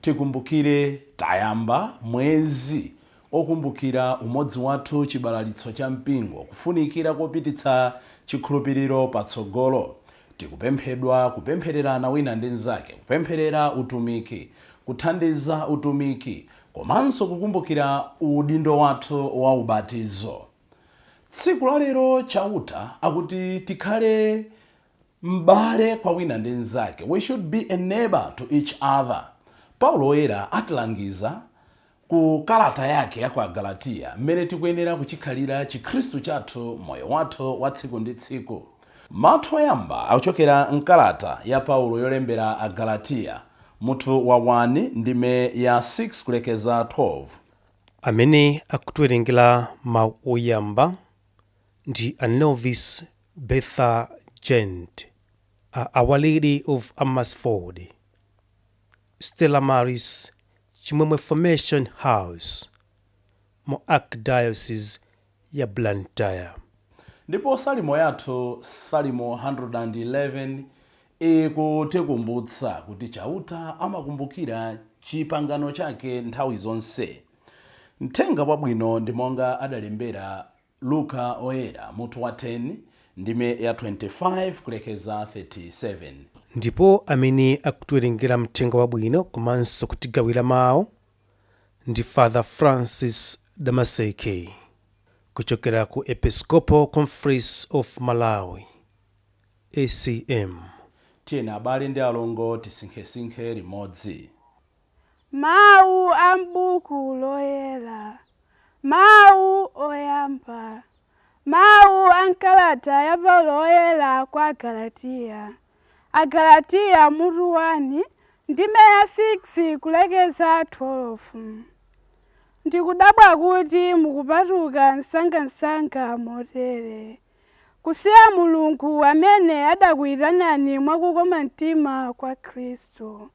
Tikumbukire tayamba mwezi okumbukira umodzi wathu chibalalitso cha mpingo kufunikira kopititsa chikhulupiriro patsogolo. Tikupemphedwa kupemphererana wina ndi mzake, kupempherera utumiki, kuthandiza utumiki komanso kukumbukira udindo wathu wa ubatizo. Tsiku la lero Chauta akuti tikhale m'bale kwa wina ndi mzake, we should be a neighbour to each other. Paulo Woyera atilangiza ku kalata yake ya kwa Agalatiya m'mene tikuyenera kuchikhalira chikhristu chathu moyo wathu wa tsiku ndi tsiku. Mawu oyamba akuchokera m'kalata ya Paulo yolembera Agalatiya, mutu wa 1, ndime ya 6 kulekeza 12. Amene akutiwerengera mawu oyamba ndi a Novice Bertha Gent, a Our Lady of Amersfoort, Stella Maris, Chimwemwe Formation House, mu Archdiocese ya Blantyre. Ndipo salimo yathu, Salimo 111, ikutikumbutsa kuti Chauta amakumbukira chipangano chake nthawi zonse. Mthenga Wabwino ndi monga adalembera Luka Woyera, mutu wa 10, ndime ya 25 kulekeza 37. Ndipo amene akutiwerengera Mthenga Wabwino komanso kutigawira mawu ndi Father Francis Damaseke kuchokera ku Episcopal Conference of Malawi, ECM. Tiyeni abale ndi alongo tisinkhesinkhe limodzi. Mawu a m'Buku Loyera, Mawu Oyamba, Mawu a m'kalata ya Paulo Woyera kwa Agalatiya, Agalatiya mutu 1, ndime ya 6 kulekeza 12. Ndikudabwa kuti mukupatuka msangamsanga motere. kusiya Mulungu amene adakuyitanani mwa kukoma mtima kwa Khristu,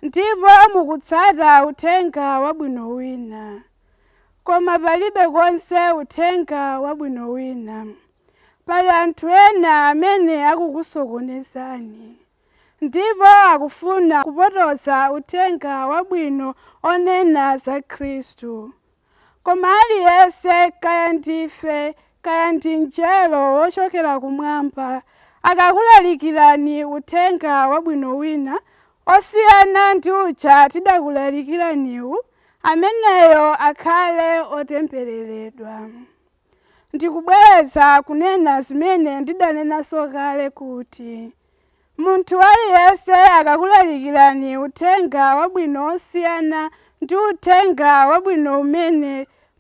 ndipo mukutsata uthenga wabwino wina. Koma palibe konse uthenga wabwino wina. Pali anthu ena amene akukusokonezani, ndipo akufuna kupotoza uthenga wabwino onena za Khristu, Koma aliyense, kaya ndife, kaya ndi mnjelo wochokera kumwamba, akakulalikirani uthenga wabwino wina osiyana ndi uja tidakulalikiraniwu, ameneyo akhale otembereredwa. Ndikubwereza kunena zimene ndidanenanso kale kuti, Munthu aliyense akakulalikirani uthenga wabwino wosiyana ndi uthenga wabwino umene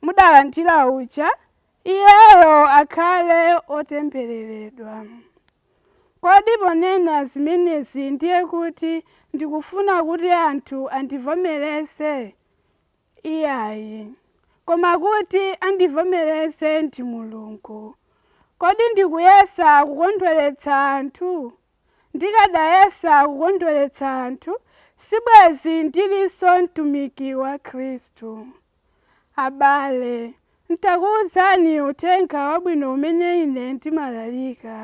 mudalandira uja, iyeyo akhale otembereredwa. Kodi ponena zimenezi ndiye kuti ndikufuna kuti anthu andivomereze? Iyayi, koma kuti andivomereze ndi Mulungu. Kodi ndikuyesa kukondweretsa anthu? Ndikadayesa kukondweretsa anthu, sibwezi ndilinso mtumiki wa Khristu. Abale, Ntakuuzani uthenga wabwino umene ine ndimalalika,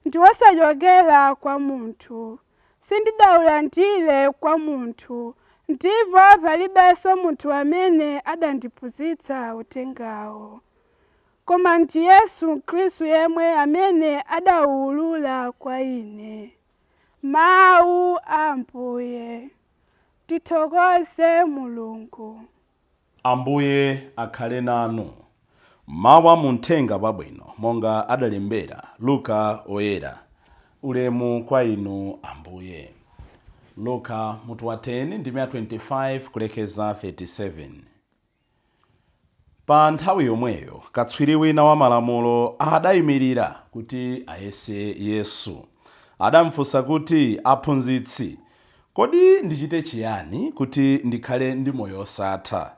ndi wosachokera kwa munthu, sindidaulandire kwa munthu, ndipo palibenso munthu amene adandiphunzitsa uthengawo, koma ndi Yesu Khristu yemwe amene adauulula kwa ine. Mawu a Ambuye. Tithokoze Mulungu. Ambuye akhale nanu. Mawu a mu Mthenga Wabwino monga adalembera Luka Oyera. Ulemu kwa Inu, Ambuye. Luka, mutu wa 10, ndime ya 25 kulekeza 37. Pa nthawi yomweyo katswiri wina wa Malamulo adayimirira kuti ayese Yesu. Adamfunsa kuti, Aphunzitsi, Kodi ndichite chiyani kuti ndikhale ndi moyo osatha?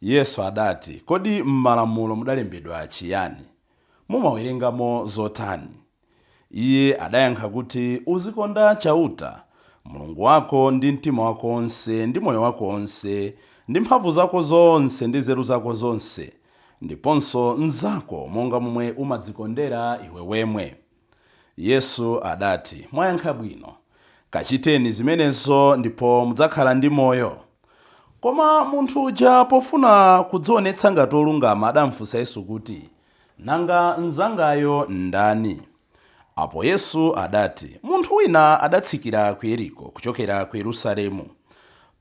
Yesu adati, Kodi m'malamulo mudalembedwa chiyani? Mumawerengamo zotani? Iye adayankha kuti, Uzikonda Chauta, Mulungu wako, ndi mtima wako onse, ndi moyo wako onse, ndi mphamvu zako zonse, ndi nzeru zako zonse, ndiponso mnzako monga momwe umadzikondera iwe wemwe. Yesu adati, Mwayankha bwino. Kachiteni zimenezo ndipo mudzakhala ndi moyo. Koma munthu uja pofuna kudzionetsa ngati wolungama adamfunsa Yesu kuti, Nanga mnzangayo ndani? Apo Yesu adati, Munthu wina adatsikira ku Yeriko kuchokera ku Yerusalemu.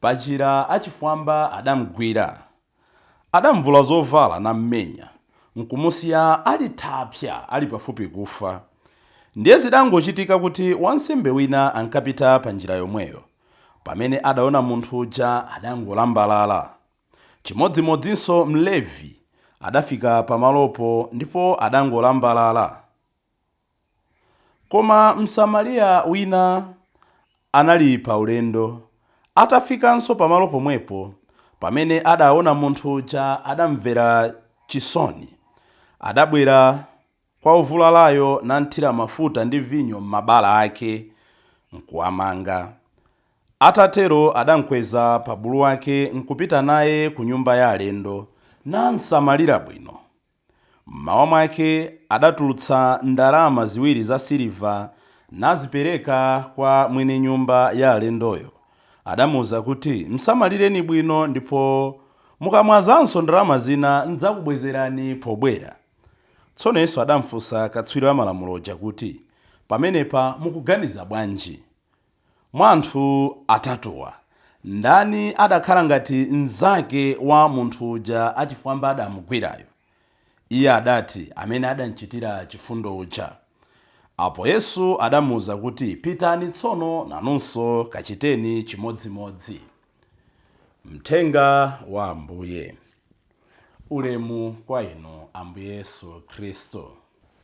Panjira achifwamba adamugwira. Adamvula zovala nammenya, nkumusiya ali thapsa, ali pafupi kufa. Ndiye zidangochitika kuti wansembe wina ankapita pa njira yomweyo. Pamene adaona munthu uja, adangolambalala. Chimodzimodzinso Mlevi, adafika pamalopo ndipo adangolambalala. Koma Msamariya wina anali pa ulendo. Atafikanso pamalo pomwepo, pamene adaona munthu uja adamvera chisoni. Adabwera kwa wovulalayo namthira mafuta ndi vinyo m'mabala ake, nkuwamanga. Atatero adamkweza pa bulu wake nkupita naye ku nyumba ya alendo, namsamalira bwino. M'mawa mwake adatulutsa ndalama ziwiri za siliva nazipereka kwa mwini nyumba ya alendoyo. Adamuuza kuti, Msamalireni bwino, ndipo mukamwazanso ndalama zina, n'dzakubwezerani pobwera. Tsono Yesu adamfunsa katswiri wa Malamulo uja kuti, Pamenepa mukuganiza bwanji? Mwa anthu atatuwa, ndani adakhala ngati mnzake wa munthu uja achifwamba adamugwirayo? Iye adati, Amene adamchitira chifundo uja. Apo Yesu adamuuza kuti, Pitani tsono, nanunso kachiteni chimodzimodzi. Mthenga wa Ambuye. Ulemu kwa Inu, Ambuye Yesu Khristu.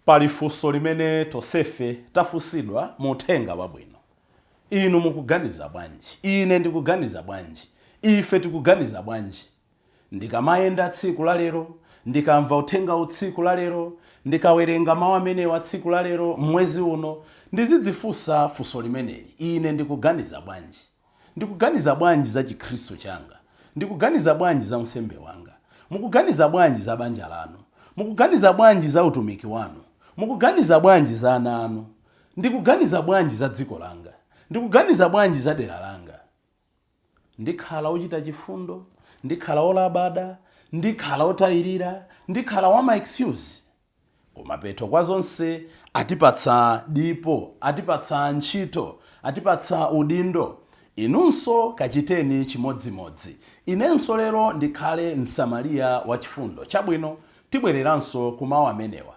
Pali funso limene tonsefe tafunsidwa mu Uthenga Wabwino. Inu mukuganiza bwanji? Ine ndikuganiza bwanji? Ife tikuganiza bwanji? Ndikamayenda tsiku la lero, ndikamva Uthenga wa tsiku la lero, ndikawerenga Mawu amenewa a tsiku la lero, m'mwezi uno, ndizidzifunsa funso limeneli, Ine ndikuganiza bwanji? Ndikuganiza bwanji za Chikhristu changa? Ndikuganiza bwanji za unsembe wanga? Mukuganiza bwanji za banja lanu? Mukuganiza bwanji za utumiki wanu? Mukuganiza bwanji za ana anu? Ndikuganiza bwanji za dziko langa? Ndikuganiza bwanji za dera langa? Ndikhala wochita chifundo? Ndikhala wolabada? Ndikhala wotayirira? Ndikhala wa ma excuse? Kumapeto kwa zonse, atipatsa dipo, atipatsa ntchito, atipatsa udindo. Inunso kachiteni chimodzimodzi. Inenso lero ndikhale Msamariya Wachifundo. Chabwino, tibwereranso ku mawu amenewa.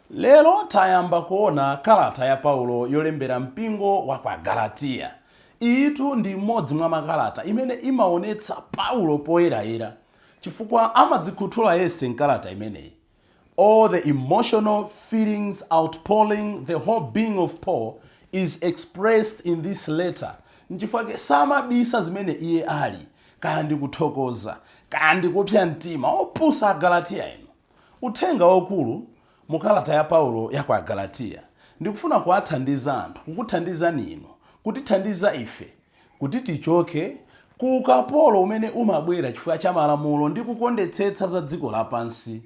Lero tayamba kuona kalata ya Paulo yolembera mpingo wa kwa Agalatiya. Iyitu ndi imodzi mwa makalata imene imaonetsa Paulo poyerayera, chifukwa amadzikhuthula yense m'kalata imeneyi. All the emotional feelings outpouring, the whole being of Paul is expressed in this letter. Nchifukwa chake samabisa zimene iye ali, kaya ndi kuthokoza, kaya ndi kupsa mtima, opusa Agalatiya inu. Uthenga waukulu mu kalata ya Paulo ya kwa Agalatiya ndi kufuna kuwathandiza anthu, kukuthandizani inu, kutithandiza ife Kuti tichoke ku ukapolo umene umabwera chifukwa cha malamulo ndi kukondetsetsa za dziko lapansi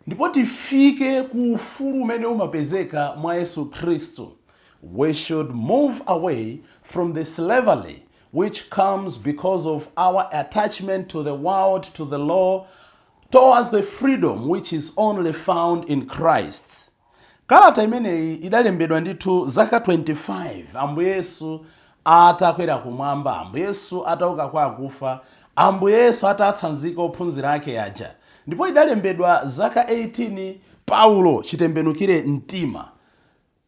ndipo tifike ku ufulu umene umapezeka mwa Yesu Khristu, we should move away from the slavery which comes because of our attachment to the world, to the law, towards the freedom which is only found in Christ. Kalata imeneyi idalembedwa ndithu zaka 25 Ambuye Yesu atakwera kumwamba, Ambuye Yesu atauka kwa akufa, Ambuye Yesu atatsanzika ophunzira ake aja, ndipo idalembedwa zaka 18 Paulo chitembenukire mtima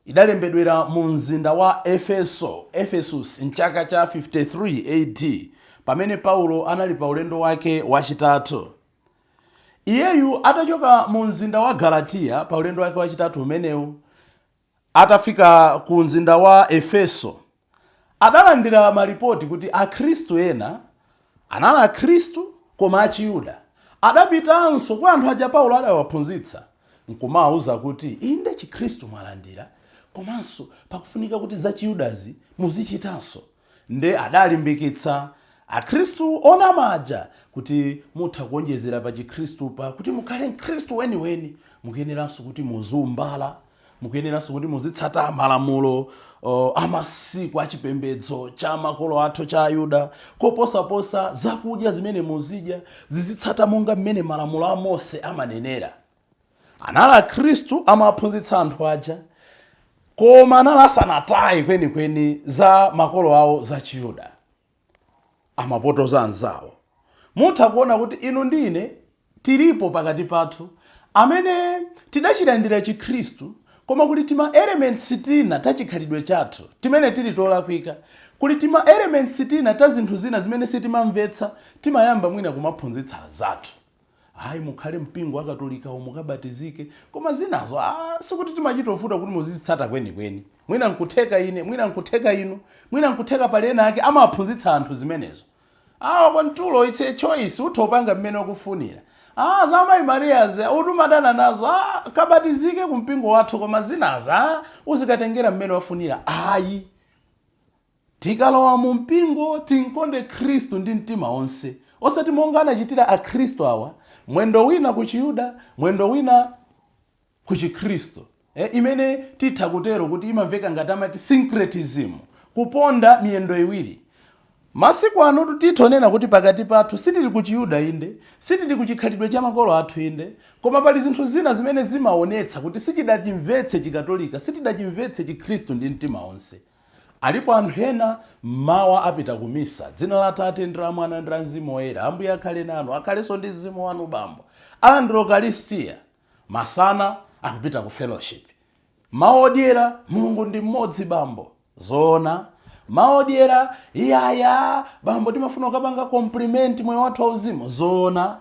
idalembedwera mu mzinda wa Efeso, Ephesus, m'chaka cha 53 AD, pamene Paulo anali pa ulendo wake wachitatu. Iyeyu atachoka mu mzinda wa Galatiya pa ulendo wake wachitatu umenewu, atafika ku mzinda wa Efeso, adalandira malipoti kuti Akhristu ena anali Akhristu koma achiyuda. Adapitanso kwa anthu aja Paulo adawaphunzitsa nkumawauza kuti, Inde Chikhristu mwalandira, komanso pakufunika kuti zachiyudazi muzichitanso. Nde adalimbikitsa akhristu onama aja kuti mutha kuonjezera pa chikhristupa kuti mukhale mkhristu weniweni mukuyeneranso kuti muziumbala, mukuyeneranso kuti muzitsata malamulo uh, amasiku achipembedzo cha makolo athu cha ayuda koposaposa zakudya zimene muzidya zizitsata monga mmene malamulo a mose amanenera anali akhristu amaphunzitsa anthu aja koma anali asanataye kwenikweni za makolo awo za chiyuda amapotoza anzawo mutha kuona kuti inu ndi ine tilipo pakati pathu amene tidachilandira chikhristu koma kuti tima elements tina ta chikhalidwe chathu timene tili tolakwika kuti tima elements tina ta zinthu zina zimene sitimamvetsa timayamba mwina kumaphunzitsa anzathu ayi mukhale mpingo wa katolikawo mukabatizike koma zinazo ah, sikuti timachita kuvuta kuti muzizitsata kwenikweni mwina nkutheka ine mwina nkutheka inu mwina nkutheka pali ena ake amaphunzitsa anthu zimenezo awa kwantulo it's a choice utha kupanga mmene ukufunira ah, za mayi mariyazi utha kumadana nazo ah, kabatizike ku mpingo wathu koma zinazo ah, uzikatengera mmene wafunira ayi Tikalowa mu mpingo timkonde Khristu ndi mtima wonse, osati monga anachitira Akhristu awa, mwendo wina ku Chiyuda, mwendo wina ku Chikhristu, eh, imene titha kutero kuti imamveka ngati amati syncretism, kuponda miyendo iwiri. Masiku anotu titha kunena kuti pakati pathu sitili ku Chiyuda inde, sitili ku chikhalidwe cha makolo athu inde, koma pali zinthu zina zimene zimaonetsa kuti sitidachimvetse Chikatolika, sitidachimvetse Chikhristu ndi mtima wonse. Alipo anthu ena mmawa apita ku misa. M'dzina la Atate, ndi la Mwana, ndi la Mzimu Woyera. Ambuye akhale nanu, akhalenso ndi mzimu wanu, bambo. Alandira Ukalistia. Masana, akupita ku fellowship. Mawu odyera, Mulungu ndi mmodzi, bambo. Zoona? Mawu odyera, Iyayi, a, bambo, timafuna kukapanga compliment moyo wathu wauzimu. Zoona?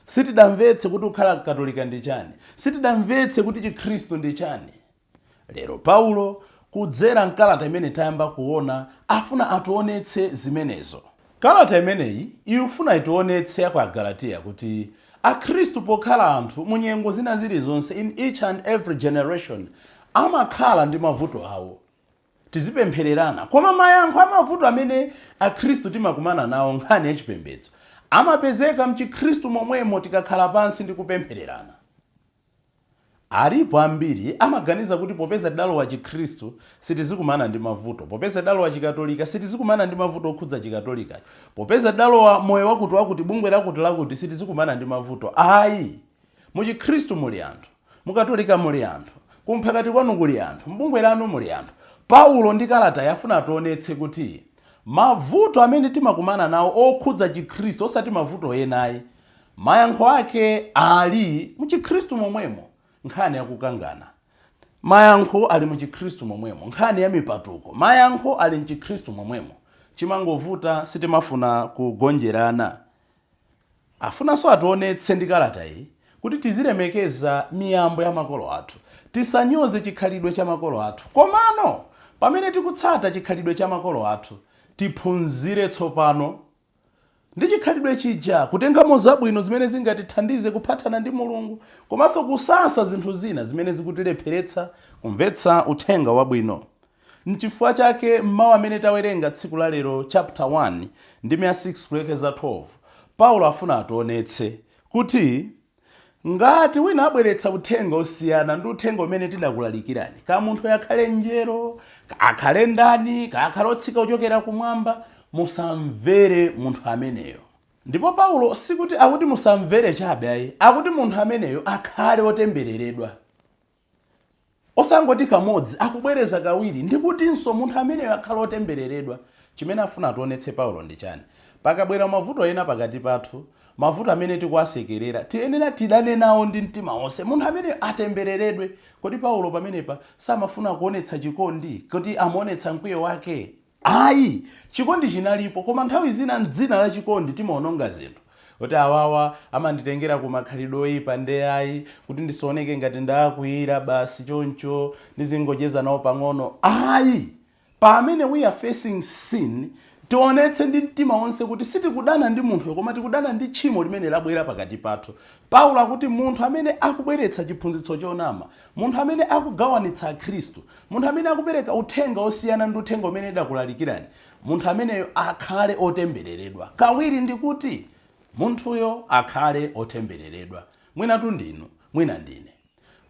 Sitidamvetse kuti kukhala Mkatolika ndi chani. Sitidamvetse kuti Chikhristu ndi chani. Lero Paulo, kudzera m'kalata imene tayamba kuona, afuna ationetse zimenezo. Kalata imeneyi ifuna itionetse ya kwa Agalatiya kuti Akhristu pokhala anthu mu nyengo zina zilizonse, in each and every generation, amakhala ndi mavuto awo. Tizipemphererana. Koma mayankho a mavuto amene Akhristu timakumana nawo m'nkhani ya chipembedzo, amapezeka m'chikhristu momwemo tikakhala pansi ndi kupemphererana. Alipo ambiri amaganiza kuti popeza adalowa chikhristu sitizikumana ndi mavuto, popeza adalowa chikatolika sitizikumana ndi mavuto okhudza chikatolikacho, popeza adalowa moyo wakutiwakuti, bungwe lakutilakuti sitizikumana ndi mavuto ayi. Mu chikhristu muli anthu, mu katolika muli anthu, ku mphakati kwanu kuli anthu, m'bungwe lanu muli anthu. Paulo ndi kalatayi afuna ationetse kuti mavuto amene timakumana nawo okhudza chikhristu osati mavuto ena ayi, Mayankho ake Ali mu chikhristu momwemo, nkhani ya kukangana. Mayankho ali mu chikhristu momwemo, nkhani ya mipatuko. Mayankho ali mchikhristu momwemo. Chimangovuta sitimafuna kugonjerana. Afunanso ationetse ndi kalata iyi kuti tizilemekeza miyambo ya makolo athu. Tisanyoze chikhalidwe cha makolo athu. Komano pamene tikutsata chikhalidwe cha makolo athu, tiphunzire tsopano ndi chikhalidwe chija, kutengamo zabwino zimene zingatithandize kuphathana ndi Mulungu komanso kusasa zinthu zina zimene zikutilepheretsa kumvetsa uthenga wabwino. N'chifukwa chake m'mawu amene tawerenga tsiku la lero chaputa 1, ndime ya 6 kulekeza 12, Paulo afuna ationetse kuti Ngati wina abweretsa uthenga osiyana ndi uthenga umene tidakulalikirani, kaya munthuyo akhale mnjelo, kaya akhale ndani, kaya akhale otsika kuchokera kumwamba, musamvere munthu ameneyo. Ndipo Paulo sikuti akuti musamvere chabe ayi, akuti munthu ameneyo akhale otembereredwa. Osangoti kamodzi, akubwereza kawiri, ndikutinso, munthu ameneyo akhale otembereredwa. Chimene afuna ationetse Paulo ndi chani? Pakabwera mavuto ena pakati pathu, mavuto amene tikuwasekerera, tiyenera tidane nawo ndi mtima onse. Munthu ameneyo atembereredwe. Kodi Paulo pamenepa samafuna kuonetsa chikondi? Kuti amaonetsa mkwiyo wake? Ayi, chikondi chinalipo koma nthawi zina m'dzina la chikondi timaononga zinthu. Kuti awawa amanditengera ku makhalidwe oipa nde ayi, kuti ndisaoneke ngati ndaakwiyira basi choncho ndizingocheza nawo pang'ono ayi. Pamene we are facing sin tionetse ndi mtima wonse kuti sitikudana ndi munthuyo koma tikudana ndi tchimo limene labwera pakati pathu. Paulo akuti munthu amene akubweretsa chiphunzitso chonama Munthu amene akugawanitsa akhristu, munthu amene akupereka uthenga wosiyana ndi uthenga umene tidakulalikirani, munthu ameneyo akhale otembereredwa. Kawiri ndikuti, Munthuyo akhale otembereredwa. Mwinatu ndinu, mwina ndine.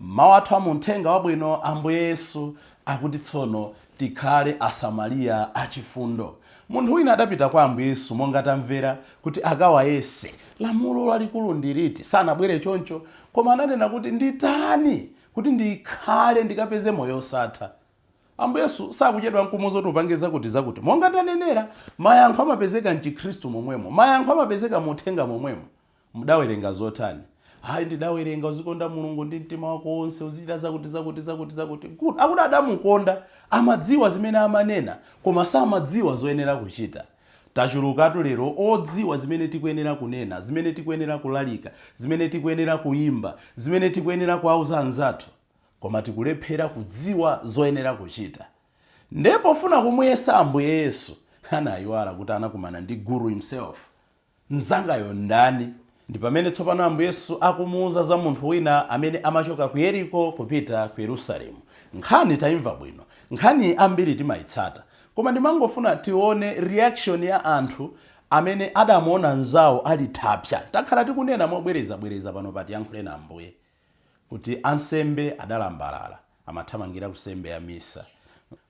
Mawu athu a mu Uthenga Wabwino, Ambuye Yesu akuti tsono, Tikhale Asamaliya Achifundo. Munthu wina adapita kwa Ambuye Yesu monga tamvera, kuti akawayese, lamulo lalikulu ndi liti? Sanabwere choncho, koma ananena kuti, Nditani kuti ndikhale ndikapeze moyo wosatha? Ambuye Yesu sakuchedwa nkumuuza kuti upange zakuti zakuti. Monga tanenera, mayankho amapezeka m'chikhristu momwemo. Mayankho amapezeka mu uthenga momwemo. Mudawerenga zotani? Ayi, ndidawerenga, Uzikonda Mulungu ndi mtima wako wonse, uzichita zakuti. Good. Akuti adamukonda, amadziwa zimene amanena, koma samadziwa zoyenera kuchita. Tachulukatu lero odziwa zimene tikuyenera kunena, zimene tikuyenera kulalika, zimene tikuyenera kuyimba, zimene tikuyenera kuwauza anzathu, koma tikulephera kudziwa zoyenera kuchita. Nde pofuna kumuyesa Ambuye Yesu, anayiwala kuti anakumana ndi Guru himself. Mnzangayo ndani? Ndi pamene tsopano Ambuye Yesu akumuuza za munthu wina amene amachoka ku Yeriko kupita ku Yerusalemu. Nkhani taimva bwino. Nkhani ambiri timaitsata. Koma ndimangofuna tione reaction ya anthu amene adamuona mnzao ali thapsa. Takhala tikunena mobwerezabwereza pano pa Tiyankhuleni Ambuye. kuti ansembe adalambalala, amathamangira ku nsembe ya misa.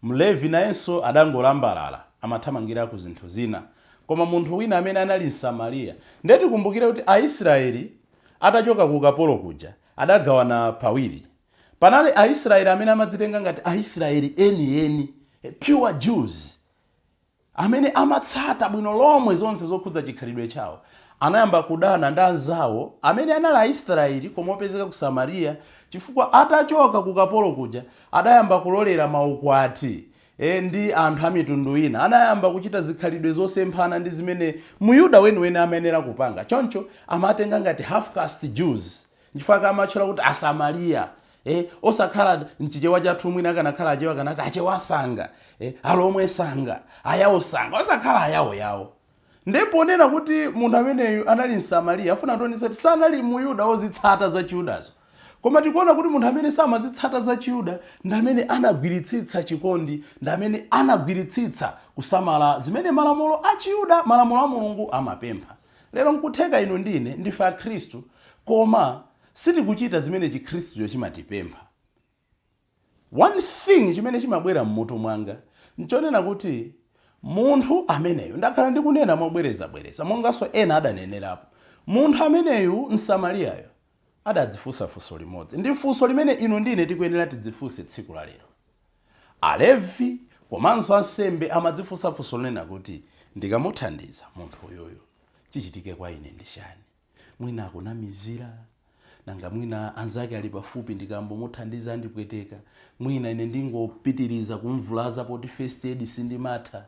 Mlevi nayenso adangolambalala, amathamangira ku zinthu zina. Koma munthu wina amene anali Msamariya. Nde tikumbukire kuti Aisraeli atachoka ku ukapolo kuja, adagawana pawiri. Panali Aisraeli amene amadzitenga ngati Aisraeli enieni, pure Jews. amene amatsata bwino lomwe zonse zokhudza chikhalidwe chawo, anayamba kudana ndi anzawo amene anali Aisrayeli koma opezeka ku Samariya chifukwa atachoka ku ukapolo kuja adayamba kulolera maukwati ndi anthu amitundu ina. Anayamba kuchita zikhalidwe zosemphana ndi zimene Myuda weniweni amayenera kupanga. Choncho, amatenga ngati half-caste Jews. Nchifukwa chake amatchula kuti Asamariya. Eh, osakhala mchichewa chathu mwina akanakhala achewa akanati achewa sanga eh, alomwe sanga ayawo sanga osakhala ayawo nde ponena kuti munthu ameneyu anali msamariya afuna kutionetsa kuti sanali muyuda wozitsata za chiyudazo koma tikuona kuti munthu amene samazitsata za chiyuda ndi amene anagwiritsitsa chikondi ndi amene anagwiritsitsa kusamala zimene malamulo a chiyuda malamulo a mulungu amapempha Lero n'kutheka inu ndi ine ndife Akhristu koma sitikuchita zimene Chikhristucho chimatipempha. One thing chimene chimabwera m'mutu mwanga n'chonena kuti munthu ameneyu, ndakhala ndikunena mobwerezabwereza monganso ena adanenerapo, munthu ameneyu Msamariyayo adadzifunsa funso limodzi. Ndi funso limene inu ndi ine tikuyenera tidzifunse tsiku la lero. Alevi komanso ansembe amadzifunsa funso lonena kuti, Ndikamuthandiza munthu uyoyo, chichitike kwa ine ndi chani? Mwina akunamizira, nanga mwina anzake ali pafupi ndikambomuthandiza andipweteka, mwina ine ndingopitiriza kumvulaza poti first aid sindimatha.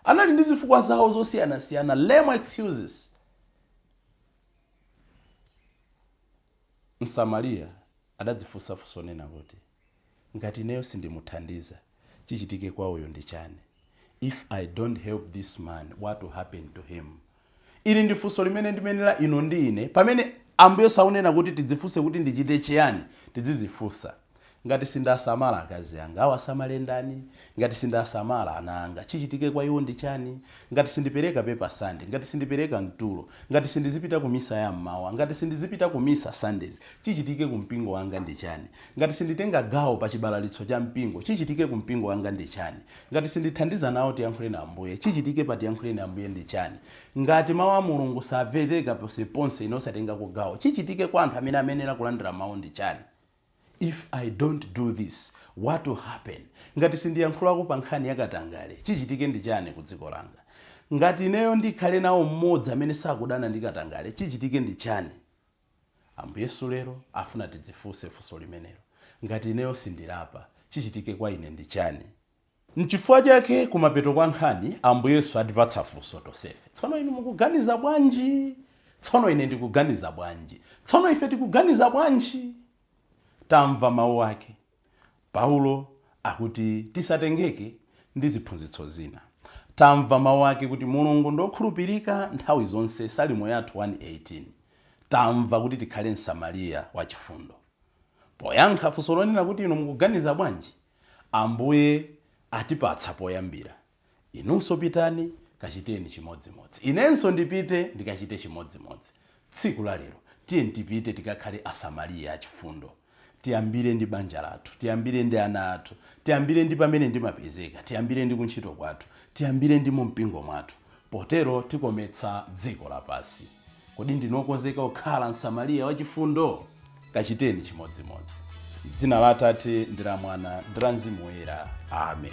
Anali ndi zifukwa zawo zosiyanasiyana, lame excuses. Msamariya adadzifunsa funso lonena kuti, Ngati ineyo sindimuthandiza, chichitike kwa uyo ndi chani? If I don't help this man, what will happen to him? Ili ndi funso limene ndimenera inu ndi ine pamene Ambuye Yesu akunena kuti tidzifunse kuti ndichite chiyani, tidzidzifunsa. Ngati sindasamala akazi anga, awasamale ndani? Ngati sindasamala ana anga, chichitike kwa iwo ndi chani? Ngati sindipereka pepa Sunday, ngati sindipereka mtulo, ngati sindizipita ku misa ya m'mawa, ngati sindizipita ku misa Sundays, chichitike ku mpingo wanga ndi chani? Ngati sinditenga gawo pa chibalalitsa cha mpingo, chichitike ku mpingo wanga ndi chani? Ngati sindithandiza nawo Tiyankhuleni Ambuye, chichitike pa Tiyankhuleni Ambuye ndi chani? Ngati mau a Mulungu samvereka ponseponse ine osatengako gawo, chichitike kwa anthu amene amayenera kulandira mau ndi chani? If I don't do this, what will happen? Ngati sindiyankhulako pa nkhani ya katangale, chichitike ndi chani ku dziko langa? Ngati ineyo ndikhale nawo m'modzi amene sakudana ndi katangale, chichitike ndi chani? Ambuye Yesu lero afuna tidzifunse funso limenelo. Ngati ineyo sindilapa, chichitike kwa ine ndi chani? Nchifukwa chake kumapeto kwa nkhani Ambuye Yesu atipatsa funso tonsefe. Tsono inu mukuganiza bwanji? Tsono ine ndikuganiza bwanji? Tsono ife tikuganiza bwanji? Tamva mau ake. Paulo akuti tisatengeke ndi ziphunzitso zina. Tamva mau ake kuti Mulungu ndi okhulupirika nthawi zonse, Salimo yathu 118. Tamva kuti tikhale Msamariya wachifundo. Poyankha funso lonena kuti inu mukuganiza bwanji? Ambuye atipatsa poyambira. Inunso pitani, kachiteni chimodzimodzi. Inenso ndipite, ndikachite chimodzimodzi. Tsiku la lero, tiyeni tipite tikakhale Asamariya achifundo. Tiyambire ndi banja lathu. Tiyambire ndi ana athu. Tiyambire ndi pamene ndimapezeka. Tiyambire ndi kuntchito kwathu. Tiyambire ndi mumpingo mwathu. Potero tikometsa dziko lapansi. Kodi ndinu okonzeka kukhala Msamariya wachifundo? Kachiteni chimodzimodzi. M'dzina la Atate ndi la Mwana ndi la Mzimu Woyera. Amen.